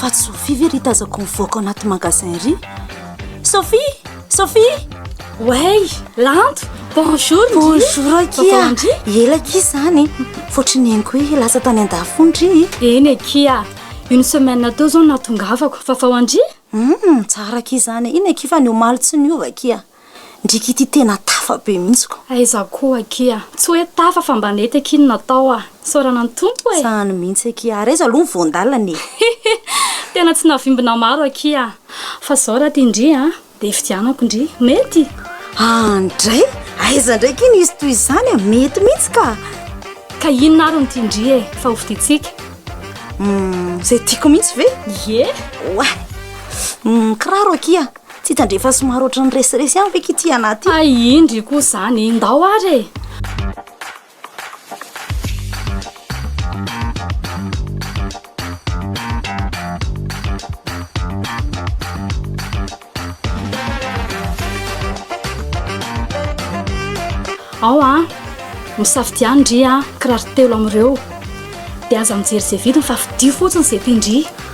Faty Sophie ve ry tazako mivoaka ao anaty magasin ry Sophie Sophie Wey Lanto Bonjour Bonjour akia Ela akia izany Fotry ny henoko hoe lasa tany an-dafy ndry Eny akia Une semaine teo izao no nahatongavako Fa vao andry? Hum, tsara akia izany Eny akia fa ny omaly tsy niova akia ndriky ity tena tafa be mihitsy ko. Aiza koa aky a! Tsy hoe tafa fa mba nety aky ny natao a! Isaorana ny Tompo e! Tsy any mihitsy aky a! Ary aiza aloha ny voan-dalana e! Hihi! Tena tsy navimbina maro aky a! Fa zao raha tia ndry a! Dia ifidianako ndry! Mety? An! Ndray? Aiza ndray aky ny hisy toy izany a! Mety mihitsy ka! Ka inona ary no tia ndry e! Fa hofidintsika? Umm! Izay tiako mihitsy ve? Ie! Oay! Umm! Kiraro aky a! Tsy hitandre fa somary ohatran'ny resiresy ihany ve ky ity anah ty? Hay indry koa izany, ndao ary e! Ao an! Misafidia an ndry an kiraro telo amin'ireo. Dia aza mijery izay vidiny fa fidio fotsiny izay tian-dry.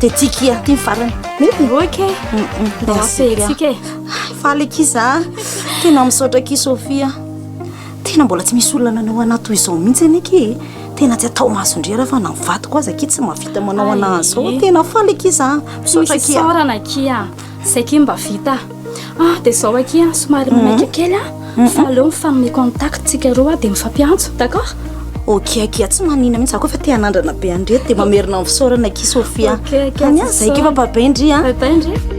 Tetika aty farany. Mety. Ok. Merci. Tetika e. Faly kisa. Tena misaotra ki Sofia. Tena mbola tsy misy olona nanao anaty toy izao mihitsy anie ki. Tena tsy atao masondriera fa na vadiko aza ki tsy mavita manao anazy zao. Tena faly kisa. Misaotra ki. Misaorana ki. Zay ki mba vita. Ah, dia zao aky an, somary mhm. manaika kely an, mhm. fa aleo mifanome contact tsika roa dia mifampiantso, d'accord Ok aky an, tsy manina mihitsy za koa fa te hanandrana be andreto dia mamerina amin'ny fisaorana aky Sofia. Ok aky an, zay keo fa bye bye ndry an. Bye bye ndry.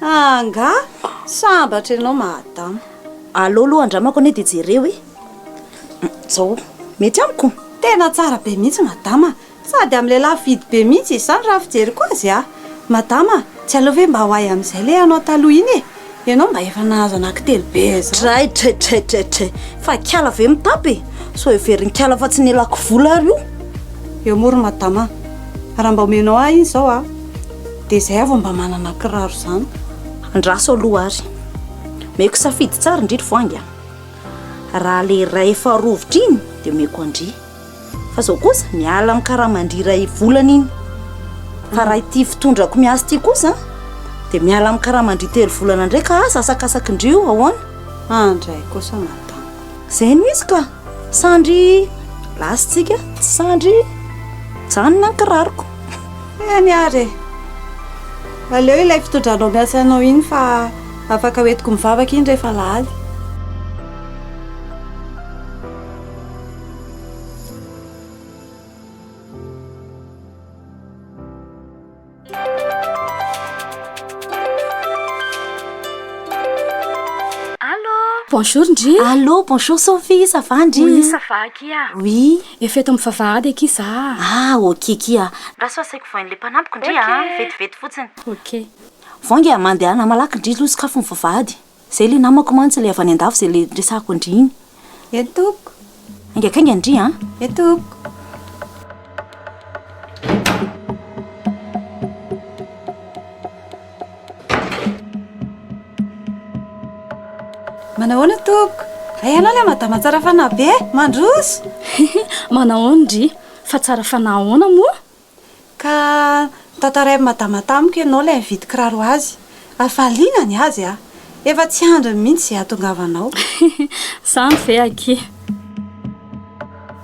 Angaha sambatra ianao madama. Alou aloha andramako anie dia jereo e! Zao mety amiko? Tena tsara be mihitsy madama, sady amin'ny lehilahy fidy be mihitsy izy izany raha ny fijeriko azy a! Madama, tsy aleo ve mba ho ahy amin'izay ilay anao taloha iny e! Ianao mba efa nahazo anankitelo be izao. Dray, dray, dray, dray, dray! Fa ikala ve mitapy e! Sao heverinkala fa tsy ny elako vola ary io! Eo moa ry madama, raha mba omenao ahy iny izao a! Dia izay aho vao mba manana kiraro izany. Andraso aloha ary. Omeko safidy tsara indry ry voahangy a! Raha ilay iray efa rovitra iny dia omeko an-dry. Fa izao kosa miala amin'ny karaman-dry iray volana iny. Fa raha ity fitondrako miasa ity kosa dia miala amin'ny karaman-dry telo volana indray ka asasakasakin-dry io ahoana? Andray kosa madama. Zay no izy ka sandry lasintsika tsy sandry janona ny kiraroko eny ary aleo ilay fitodranao miasa anao iny fa afaka hoentiko mivavaka iny rehefa laly Bonjour ndry. Allô, bonjour Sophie, ça va ndry? Oui, ça va aky a. Oui. Efa eto amin'ny vavahady aky za. Ah, ok aky a. Raha sao asaiko voain'le mpanampiko ndry a, vetivety fotsiny. Ok. Voainga e, mandehana malaky ndry, lo sokafy ny vavahady. Zay le namako mantsy le avy any andafy zay le resahako an-dry iny. Ye tompoko. Aingakaingany ndry an. Ye tompoko. Manahoana tompoko. Hay ianao le madama tsara fanahy be. Mandroso. Manahoana ndry. Fa tsara fanahy ahoana moa? Ka tantarain'i Madama tamiko ianao ilay nividy kiraro ho azy. Hafaliana ny azy a! Efa tsy andriny mihitsy izay hahatongavanao. Zany ve akia?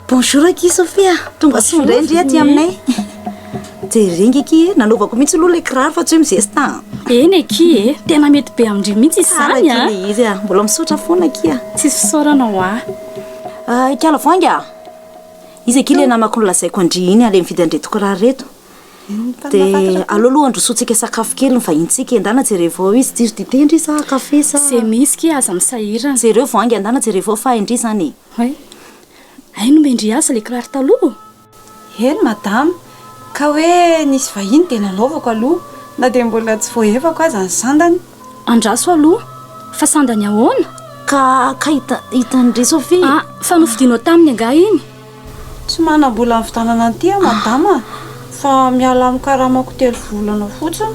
Bonjour akia Sophie a! Tonga soa indray ndry aty aminay. Jereo nge akia e! Nanaovako mihitsy aloha ilay kiraro fa tsy hoe mizesta an! Eny akia e! Tena mety be amin-dry mihitsy izany an! Tsara akia ilay izy a! Mbola misaotra foana akia! Tsisy fisaorana ho ahy. Ikala voainga a! Iza akia le namako nolazaiko andria iny ale mividy an'ireto kiraro ireto? De aleo aloha handrosoantsika sakafo kely ny vahinintsika e, ndana jerevo ao izy, jiro dite ndry sa kafe sa? Ze misy akia aza misahirana. Jereo vao hainga ndana jerevo ao fa hay ndry zany e. Hay nomendry azy le kiraro taloha? Eny madama, Ka hoe nisy vahiny dia nanaovako aloha na dia mbola tsy voahevako aza ny sandany. Andraso aloha. Fa sandany ahoana? Ka, ka hita, hitan-dry Sophie. Ah, fa nofidianao taminy angaha iny? Tsy manam-bola nividanana an'ity aho madama a! Fa miala amin'ny karamako telo volana fotsiny.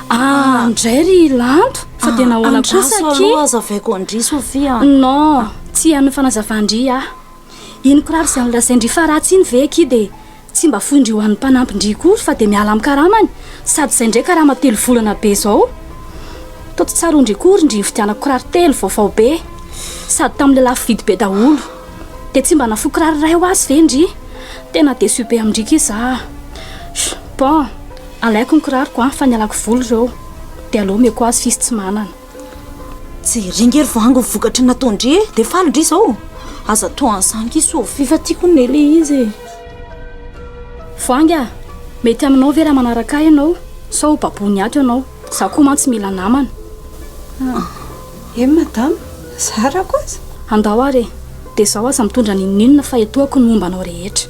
Ah, indray ry Lanto, fa dia nahoana kosa akia? Andraso aloha hazavaiko an-dry Sophie a! Non, tsy hihaino ny fanazavan-dry aho. Iny kiraro izay nolazain-dry Faratsy iny ve akia dia tsy mba foin-dry ho an'ny mpanampin-dry koa fa dia miala amin'ny karamany? Sady izay indray karama telo volana be izao. Toa tsy tsaroan-dry akory indry nividianako kiraro telo vaovao be sady tamin'ilay lafo vidy be daholo. Dia tsy mba nafoy kiraro iray ho azy ve indry? Tena déçu be amin-dry akia za a! Bon, alaiko ny kiraroko fa nialako voly ireo dia aleo omeko azy f'izy tsy manana. Jereo nge ry vangy ny vokatry ny nataon-dry e, dia faly ndry izao. Aza toa an'izany ki Sofia fa tiako ny le izy e. Vangy a! Mety aminao ve raha manaraka ahy ianao sao ho baboin'ny ato ianao? Izaho koa mantsy mila namana. Eny madama, zarako aza. Andao ary e, dia izaho aza mitondra n'inon'inona fa etoako ny momba anao rehetra.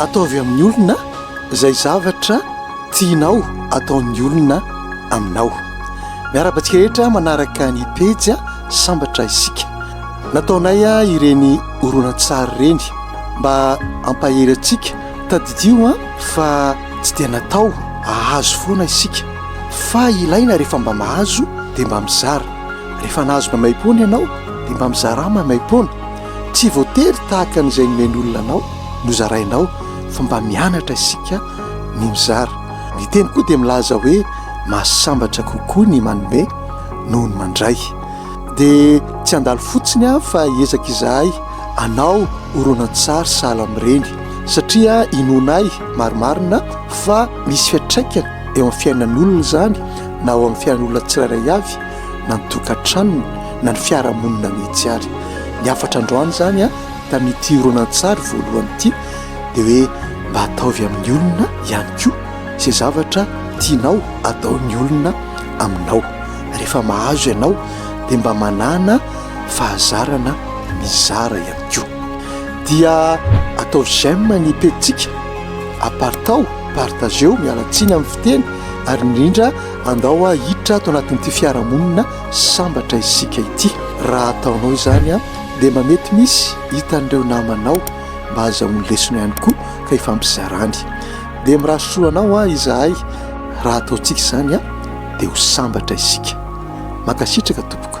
Ataovy amin'ny olona izay zavatra tianao ataon'ny olona aminao. Miarahaba antsika rehetra manaraka ny pejy Sambatra isika. Nataonay ireny horonantsary ireny mba hampahery antsika. Tadidio fa tsy dia natao hahazo foana isika fa ilaina rehefa mba mahazo dia mba mizara. Rehefa nahazo maimaipoana ianao dia mba mizara maimaipoana. Tsy voatery tahaka an'izay nomen'olona anao no zarainao fa mba mianatra isika ny mizara. Ny teny koa dia milaza hoe mahasambatra kokoa ny manome noho ny mandray. Dia tsy handalo fotsiny aho fa hiezaka izahay hanao horonantsary sahala amin'ireny satria inoanay marimarina fa misy fiantraikany eo amin'ny fiainan'olona izany na ao amin'ny fiainan'olona tsirairay avy na ny tokantranony na ny fiarahamonina mihitsy ary. Ny hafatra androany izany a, tamin'ity horonantsary voalohany ity dia hoe mba ataovy amin'ny olona ihany koa izay zavatra tianao ataon'ny olona aminao. Rehefa mahazo ianao dia mba manana fahazarana mizara ihany koa. Dia atao j'aime ny pejintsika, apartaho, partageo, miala tsiny amin'ny fiteny ary indrindra. Andao a hiditra ato anatin'ity fiarahamonina sambatra isika ity. Raha ataonao izany a dia mba mety misy hitan'ireo namanao mba hazahoany lesona ihany koa ka hifampizarany. Dia mirary soa anao a izahay raha ataontsika izany a dia ho sambatra isika. Mankasitraka tompoko.